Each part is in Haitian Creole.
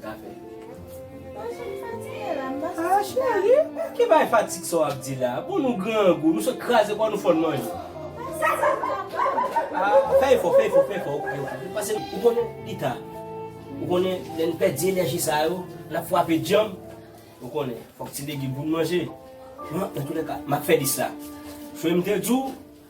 Kafe. Machann fatig e la, m pa santi bagay. Ah cheri, ki bagay fatig sa w ap di la? Bon nou grangou, nou sot kraze kò nou fòn manje. Pase sou m kapon. Ah, fè efò, fè efò, fè efò ok ok. Pase ou konnen li ta. Ou konnen lè n pèdi enèji sa yo, n ap fwape djanm. Ou konnen, fòk ti legim pou n manje. Nan toulèka, m ap fè 10 la. Frè m te di w.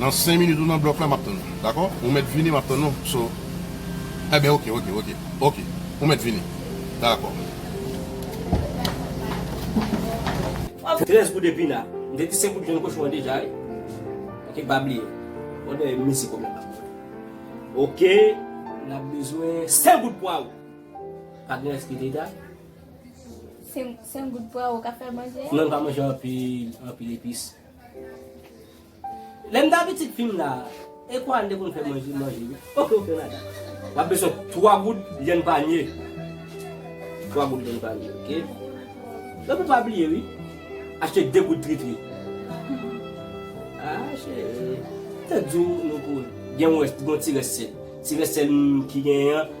Nan 5 minit ou nan block la map tann ou dakò ou mèt vini map tann ou so enben ok ok ok ok ou mèt vini dakò. Waw 13 goud epina m te di se kout jèn kochon an deja wi ok pa bliye òdè mizik ou menm ok nap bezwen 5 goud pwawo pa gen rès ki dega 5 goud pwawo ka fè manje a? Non li pa manje anpil anpil epis. Lèm ta pitit fim la Equan te konn fè manje manje wi ok ok madam. Wap bezwen 3 goud vyann panye 3 goud vyann panye ok Epi pa bliye wi achte 2 goud tritri Haa cheri Te diw nou pou gen yon rès gon ti rès sèl Ti rès sèl ki genyen an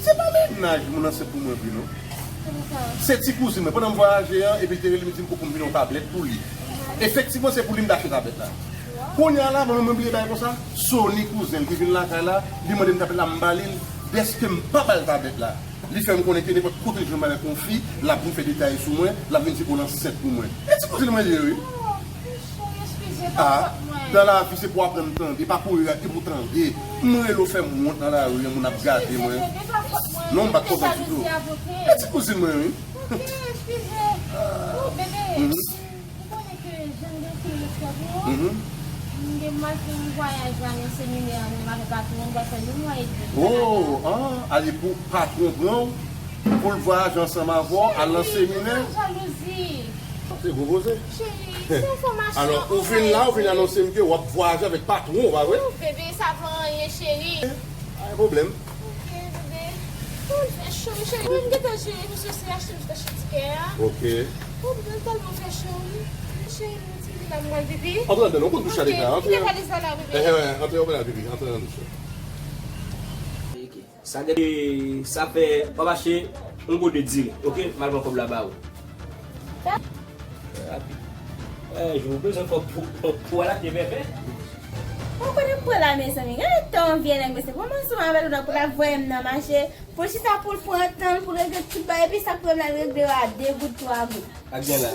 Se pa mennaj moun ansent pou mwen vre non. Se ti kouzin mwen. Pandan m vwayaje an, epi l te rele m li di m pou pou m vini yon tablèt pou li. Efektivman se pou li m te achte tablèt la. Kounye a la, mwen menm mwen bliye bagay konsa, Sony kouzen l ki vin lakay la, li mande m tablèt la m ba li l. Dèske m pa ba l tablèt la, li fè m konnen ke nenpòt kote l jwenn m avèk yon fi, l ap vin fè detay sou mwen, l ap vin di ke l ansent pou mwen. E ti kouzin mwen li ye wi. Ahh nan lavi se pou aprann tande pa kouri rate pou tande m rele w fè m wont nan lari an moun ap gade mwen non m bat kontan pito e ti kouzin mwen wi ooh ahh ale pou patron pran w pou l vwayaje ansanm avè w al nan seminè. Alò ou vin la ou vin anonse m ke w ap vwayaje avèk patwon ou pa vre? Pa gen pwoblèm. Ok. Antre ladann ou konn douch la deja. Antre antre antre nan douch la. Sa gen de sa fè wap achte yon gode diri ok mal pran kob la ba ou. Eeh Jou ou bezwen kob pou al achte vèvè. Ou konnen pou la mezanmi gade tan vye nèg mesye pou m ansanm avè l ou ta pou ta voye m nan mache pou l chita pou l pran tan l pou l regle tout bagay epi sa k pou m al regle yo a 2 goud 3 goud. Sak gen la.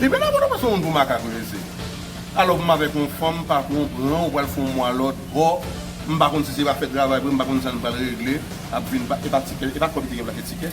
Li bel a bon ou pa se moun pou makak ou ye se Alò pou m avèk yon fanm pa pran w pran ou pral fè yon mwa lòt bò m pa konn si se pa fè travay vre m pa konn sa n pral regle ap vin pa e pa tikè e pa kòb ki te gen plake tikè.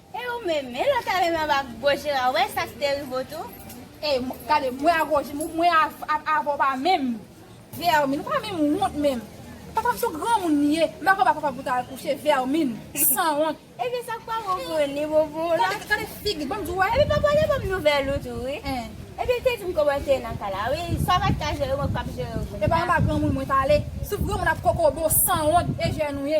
E ou menm, e lòt la menm anba goch Jera ou wè sa ki te rive w tou? E gade mwen a goch, mwen ak avè w pa menm. Vèmin, ou pa menm wont menm. Papa m se yon granmoun li ye, m pa konn ba papa pou w ta al kouche, vèmin, sanwont. Ebyen sa k pa bon pou ou ni bon pou ou la. Gade figi, banm di w wè. Epi papa w te banm nouvèl ou tou wi. Epi l te di m kòman w te ye nan kay la wi, sa w pa t ka jere mwen k ap jere w kounya. E pa anba granmoun mwen t ale. Souf granmoun ak kokobe w, sanwont, e jèn ou ye.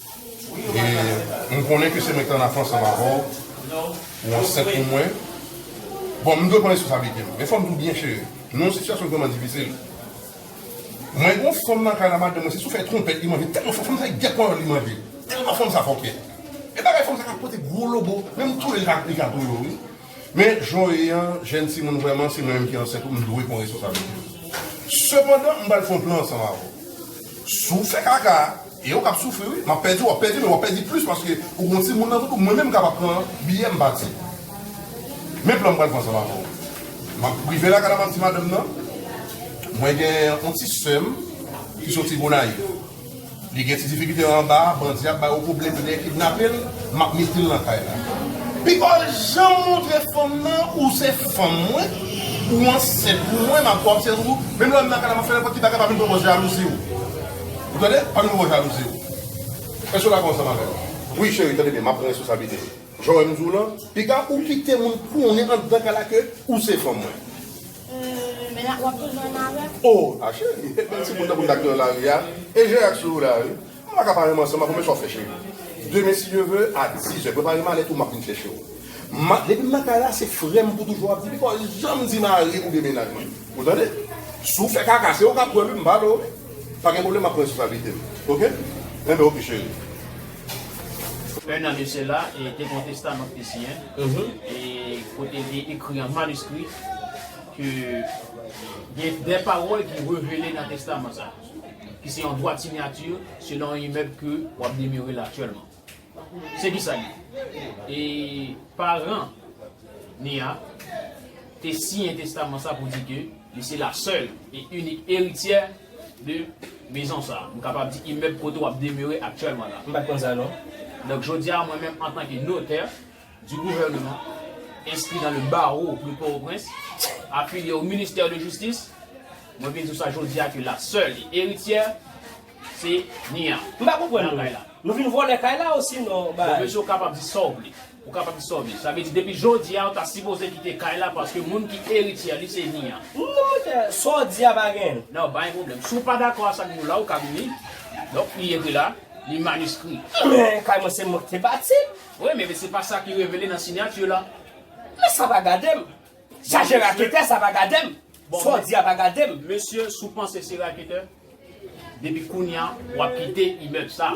E m konnen ke se mwen ki te an afans ansanm avè w, ou ansent pou mwen. Bon, m dwe pran responsablite m. Men fò m di w byen cheri, nou nan sitiyasyon ki vrèman difisil. Mwen gen yon fanm nan kay la madanm mwen se sou fèy twonpèt li manje tèlman fò fanm sa e gèp panyòl li manje. Tèlman fanm sa fòkè. E bagay fanm sa ka pote gwo lobo, menm toule l li ka toule w wi. Men, Joé an, jèn timoun vrèman, se mwen menm ki ansent ou, m dwe pran responsablite yo. Sepandan, m pral fè yon plan ansanm avè w. Si w fè kaka, e ou k ap soufri wi, m ap pèdi, w ap pèdi men w ap pèdi plis paske ou gen yon timoun nan tout ou, mwen menm m kapab pran biyè m pati. Men plan m pral fè ansanm avè w. M ap rive lakay la, m ap di madanm nan, mwen gen yon ti sè m ki soti Gonayiv. Li gen ti difikilte anba a, bandi ap ba yo pwoblèm, yo dèyè kidnape l, m ap mete l nan kay la. Pi pa w janm montre fanm nan ou se fanm mwen, ou ansent pou mwen, m ap fè w ansent tou, menm lè m nan kay la m ap fè nenpòt ki bagay, pa vin pran pòz jalouzi w. Ou tande? Pa vin pran pòz jalouzi w. Èske w dakò ansanm avè m? Wi cheri, tande byen, m ap pran responsablite l. Jan w wè m di w lan, piga ou kite moun konnen anndan kay la ke ou se fanm mwen. Eeh men wap toujou nan nare? Oh a cheri e bèl ti moun tankou n ak nan lari a e je ak je w la wi Mwen pa ka pa renmen ansanm avè w men sa w fè cheri Demen si Dye ve a dizè prepare malèt ou m ap vin chèche w Ma depi m nan kay la se frè m pou toujou w ap di li pa janm di mari oubyen mennaj mwen Ou tande Si w fè kaka se ou k ap pran l wi m pa vle w Pa gen pwoblèm m ap pran responsablite m ok Enben ok cheri. 1 an de sela, te gen yon testaman ki te siyen, e kote li te ekri an maniskri ke gen de pawòl ki revele nan testaman sa, ki se yon dwat sinyati selon yon imèb ke w ap demere la aktyèlman. Se ki sa li ye. E paran Nia te siyen testaman sa pou di ke li se la sèl e inik erityè. de mezon sa a. M kapab di imèb kote w ap demere aktyèlman la. M pa t konn sa non. Donk jodi a mwen menm antanke notè di gouvèneman, enskri nan le bawo de Pòtoprens, afilye o ministè de jistis, mwen vin di w sa jodi a ke la sèl e erityè se Nia. M pa konprann nou. Nou vin vòlè kay la osinon bay. Bon mesye w kapab di sa w vle. Ou kapab sove. Sa vle di depi jodi a ou ta sipoze kite kay la paske moun ki erityè li se Nia. Non mwen te, sa w di a pa gen. Nan pa gen pwoblèm. Si w pa dakò a sa k di w la ou ka vini. Donk li ekri la, li maniskri. Men kay mwen se mwen ki te bati l. Wi men se pa sa ki revele nan sinyati la. Men sa pa gade m. Sa se raketè sa pa gade m. Sa w di a pa gade m. Mesye si w panse se raketè depi kounya w ap kite imèb sa.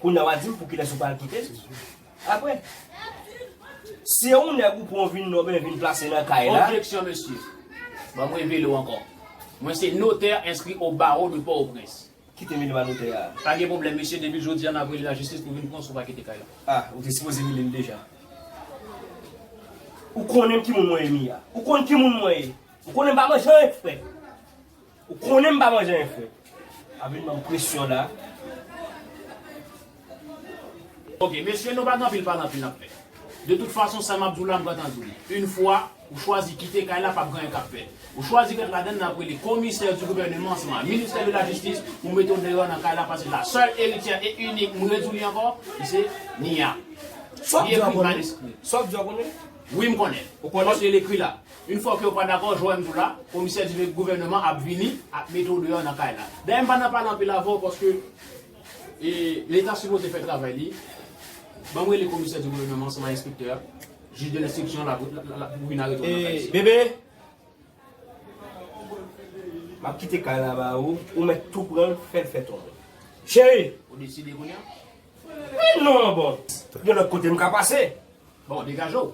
Kounya wap dim poukilès ou pral kitel aprè Si yon nèg ou pran ou vin nome ou vin plase nan kay la. Objeksyon mesye. Banm revele w ankò. Mwen se notè enskri o bawo de Pòtoprens. Kite rele m a notè a. Pa gen pwoblèm mesye depi jodi a nap rele lajistis pou vin pran w si w pa kite kay la. A, ou te sipoze rele l deja. Ou konnen ki moun mwen ye Mia? Ou konn ki moun mwen ye? Ou konnen m pa manjay frè. Ou konnen m pa manje anyen fre. Ap vin banm presyon la. Ok mesye nou pa gen anpil pale anpil nap fè. De tout fason sa map di w la m pran tan di w li. Yn fwa ou chwazi kite kay la pap gen anyen kap fèt. Ou chwazi ret ladan l nap rele komisè di gouvèneman san ministè de la jistis pou mete w deyò nan kay la paske la sèl erityè e inik m redi w li ankò li se Nia. Li ekri mal eskri. Sa w di a ou konnen? Wi m konnen. Ou konnen? Paske l ekri la. Yn fok yo pa dakò jwenn tou la komisè di vek gouvèneman ap vini ap mete w deyò nan kay la. Dayè m pa nan pale anpil avè w paske leta sipoze fè travay li. Ban m rele komisè di gouvèneman ansanm ak enspektè a, jij de lenstriksyon la pou vin arete w nan kay sa. Bebe! M ap kite kay la ba ou, ou mèt tou pran l fè l fè tonbe. Cheri! Ou deside kounya? Men non bon, gen lòt kote m ka pase. Bon, degaje w.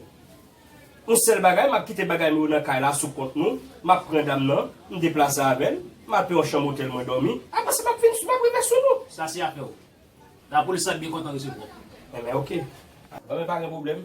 Yon sèl bagay, m ap kite bagay mwen yo nan kay la sou kont nou, m ap pran dam nan, m deplase avè l, m al pran yon chanm otèl mwen dòmi, apre sa m ap vin m ap rive sou nou. Sa se afè w. Lapolis la ap byen kontan resevwa w. Enben oke. Enben pa gen pwoblèm.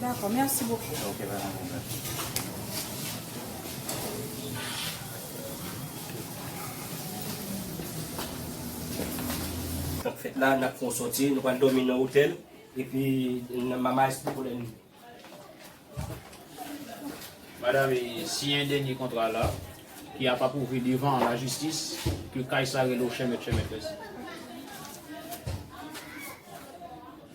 Dako merci beaucoup. Ok pa gen pwoblèm. Nap fèt la nap fon sòti nou pral dòmi nan otèl epi nan mama espo pou lènmi. Madam e siyen dènye kontra la ki ap apwouve devan la jistis ke kay sa rele w chèmèt chèmèt mèsi.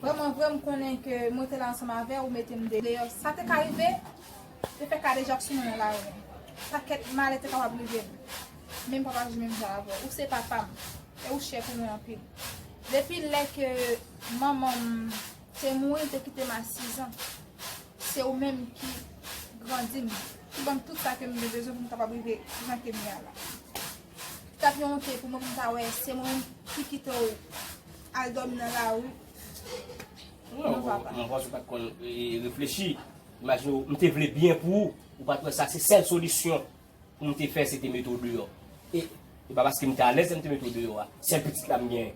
Vreman vre m konnen ke mwen te la ansanm avè ou mete m deyò. Sa te ka rive, te fè kadejak sou mwen nan lari. Pakèt malè te kapab rive m. Men m pap aji menm jan avè w. Ou se papa m, e ou chè pou mwen anpil. Depi lè ke manman m te mouri, l te kite m a sizan. Se ou menm ki grandi m, ki ban m tout sa ke m te bezwen pou m kapab rive jan ke m ye a la. Li t ap yon onte pou mwen pou m ta wè se mwen menm ki kite w. Al dòmi nan lari. Non papa. Mwen panse ou pat konn reflechi. Imajine ou, m te vle byen pou ou. Ou pat wè sa se sèl solisyon pou m te fè se te mete ou deyò. E pa paske m te alèz lè m te mete ou deyò a. Sèl pitit la m genyen.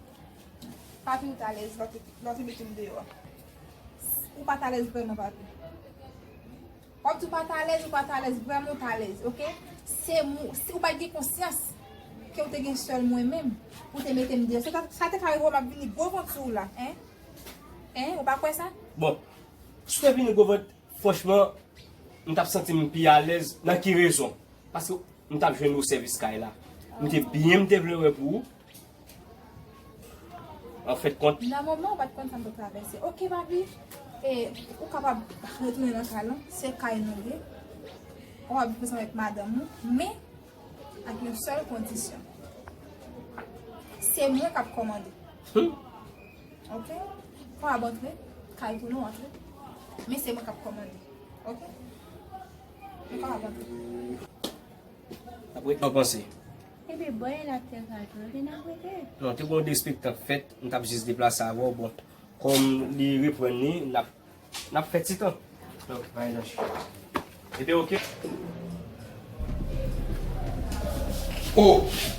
Papi ou t alèz lè w te mete m deyò a? Ou pat alèz vrèman papi? Wap di ou pat alèz ou pat alèz vrèman ou t alèz ok se si ou pat gen konsyans ke ou te gen sèl mwen menm pou te mete m deyò sa te ka rive w map vini gwo vant sou ou la hein ou pa kwè sa. Bon si w te vini gwo vant franchman m tap santi m pi alèz nan ki rezon paske m tap jwenn ou sèvis kay la m te byen m te vle wè pou ou An fèt kont. Nan moman ou pat konn sa m t ap travèse. Ok papi, e ou kapab retounen nan kay lan, se kay nou ye. Ou ap viv ansanm avèk madanm ou, men ak yon sèl kondisyon. Se mwen k ap kòmande. Ok? Ou ap antre, kay pou nou antre, men se mwen k ap kòmande. Ok? Ou kapab antre. Ap ret nan panse. Epi bò e lap fè kal pou yo gen ap rete. Non te gon de spektak fèt m tap jis deplase avèw bon kòm li reprann li nap nap fè titan. Ok pa gen danje. Rete ok. Oh!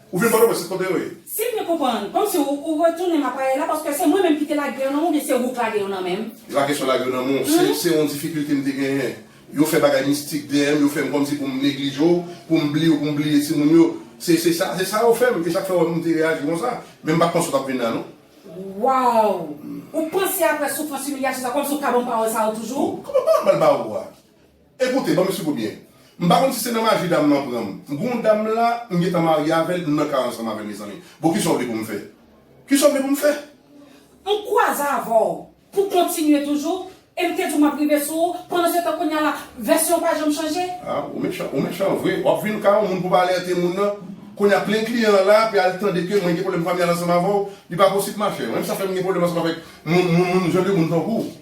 Ou vin pòtoprens tout kote yo ye. Si m byen konprann, kòmsi ou ou retounen Mapaye la paske se mwen menm ki te lage yo nan men w oubyen se ou k lage yo nan men m? Se pa kesyon lage yo nan men w, se se yon difikilte m te genyen. Yo fè bagay mistik dèyè m, yo fè m kòmsi pou m neglije w, pou m bliye w, pou m bliye timoun yo. Se se sa, se sa yo fè m, e sa k fè ou wè m m te reyaji konsa. Men m pa t panse ou t ap vin la non. Waww! Ou panse aprè soufrans, imilyasyon sa kòmsi ou ka ban m pawòl sa yo toujou? Kòman pawòl m pral ba ou a? Ekoute, banm swiv ou byen. M pa konn si se nan maji dam lan pran m. M gen yon dam la, m gentan marye avè l, m nan kay ansanm avè l mezanmi. Bon kisa w vle pou m fè? Kisa w vle pou m fè? M kwaze avè w pou w kontinye toujou e m te di w m ap rive sou ou, pandansetan kounye a la, vèsyon w pa janm chanje? A, ou mechan, ou mechan vre. W ap vin kay yon moun pou w pa alète moun nan. Kounye a plen kliyan an la, ape al tande ke mwen gen pwoblèm familyal ansanm avè w. Li pa posib machè. Menm sa fè m gen pwoblèm ansanm avèk moun, moun, moun, jan de moun tankou w.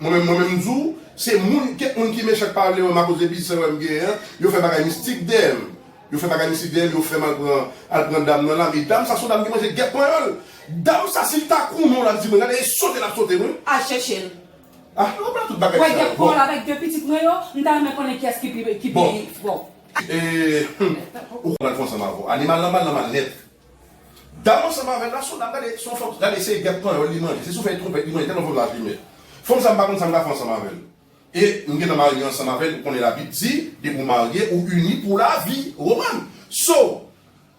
Mwen menm mwen menm m di w, se moun, kèk moun ki mechan k pa vle wè m akoz de biznis anwè m genyen an, yo fè bagay mistik dèyè m. Yo fè bagay mistik dèyè m, yo fè m al pran al pran dam nan la, men dam sa s on dam ki manje gèp panyòl. Dam sa si l ta koumen w l ap di mwen gade e sote l ap sote m wi. Al chèche l. Ah nou pa tout bagay sa yo. Wè gèp kò l avèk 2 pitit mwen yo, m ta renmen konnen kiyès ki pi ki pi fò. Bon. E humm ou kwè m al fè ansanm avè w. Animal lan mal nan mal nèt. Dam ansanm avèl la son dam gade son fanm gade se gèp panyòl li manje se sou fèy twonpèt li manje tèlman fanm sa fimè fanm sa m pa konn sa m ka fè ansanm avèl e m gentan marye ansanm avèl ou konnen labib di depi ou marye ou ini pou lavi Romàn so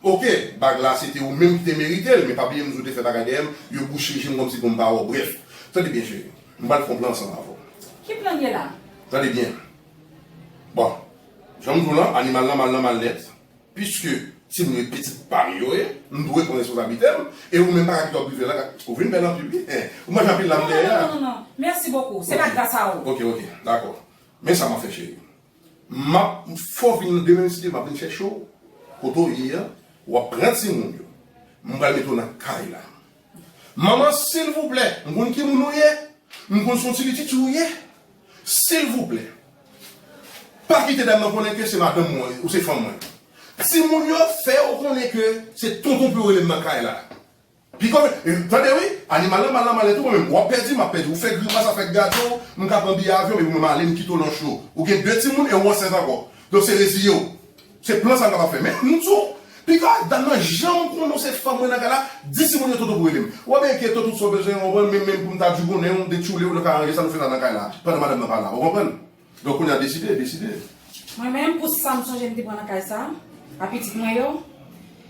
ok bag la se te ou menm ki te merite l men pa bliye m di ou te fè bagay dèyè m yo bouche je m kòmsi pou m pa wè w brèf tande byen cheri m pral fon plan ansanm avè w Ki plan ye la? Tande byen bon jan m di w lan animal lan mal lan mal nèt. Piske timoun yo e pitit pa m yo ye, m dwe pran responsablite m, e ou menm pa ka kite w prive lan, ou vin bèl anpil wi, eh, ou manje anpil la m dèyè a. Non, non, non, non, non, mèsi bokou, se pa gras a ou. Ok, ok, dakò, men sa m ap fè cheri, m ap fè w vin nan demen mesye, m ap vin chèche w kote w ye an, w ap pran timoun yo, m pral mete w nan kay la, Manman silvouplè m konn ki moun ou ye m konn son ti pitit ou ye silvouplè pa kite dam nan konnen ke se madanm mwen ou se fanm mwen ti moun yo fè yo konnen ke se tonton pou yo rele m nan kay la piko tande wi animal lan mal nan male tou mwen menm wap pèdi map pèdi ou fè grimas ap fè gadon w m ka pran biye avyon epi mwen male m kite w nan cho ou gen 2 ti moun e ou ansent ankò donk se reziye w Se plan sa nou kapab fè. Men, m di w, pika ak dam nan, jan m konnen w se fanm mwen nan kay la, di timoun yo toto pou rele m. Wap gen keto tout sa w bezwen, ou konprann, men menm pou m ta di w bonè, m te tchoule w, nou ka ranje sa nou fè sa nan kay la, pandan madanm nan pa la. Ou konprann? Donk kounye a deside, deside. Mwen menm, pou sa m sonje m te pran nan kay sa a pitit mwen yo,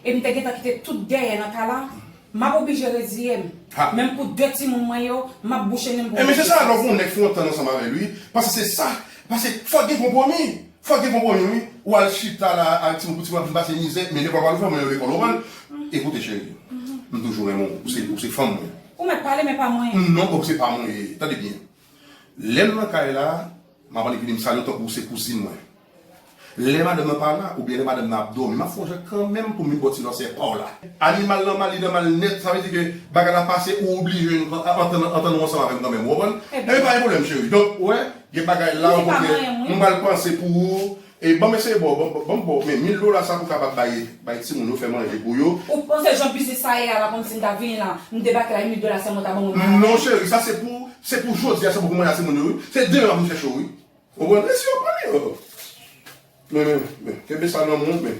e m te gentan kite tout dèyè nan kay la, m ap oblije reziye m. Ha! Menm pou de timoun mwen yo, m ap bouche nen m pou m rete. Enben, se sa, lè w konn yon nèg fè yon tan ansanm avè l, wi, pase se sa, pase fòk gen konpwomi. Fòk gen konpwomi wi, ou al chita la ak timoun pou timoun ap vin pase mizè, men lè papa nou fè mwen yon lekòl ou konprann? E koute cheri, m toujou renmen w, ou se fanm mwen. Ou mèt pale men pa mwen. Non ok se pa mwen ye, tande byen. Lè m nan kay la, m ap annik vini m sale w tankou ou se kouzin mwen. Lè madanm nan pa la, oubyen lè madanm nan ap dòmi, m ap sonje kanmenm pou m vin bo ti lòsyè pa w la. Animal nan mal, li nan mal nèt, sa vle di ke bagay la pase ou oblije antann ou ansanm avè m kanmenm, ou konprann? Enben pa gen pwoblèm cheri. Donk, ou wè, Gen bagay la ou konnen nou pral panse pou ou e banm eseye baw banm baw men mil dola sa pou kapab bay bay timoun yo fè manje pou yo. Ou panse jan biznis sa ye a la konn sim ta vini la m debake la yon mil dola sèlman ta banm ou malad. Non cheri sa se pou se pou jodia se pou pou manda timoun yo wi se demen wap vin chèche yo wi ou konprann mesi ok mami oh men men men kenbe sa nan menw men.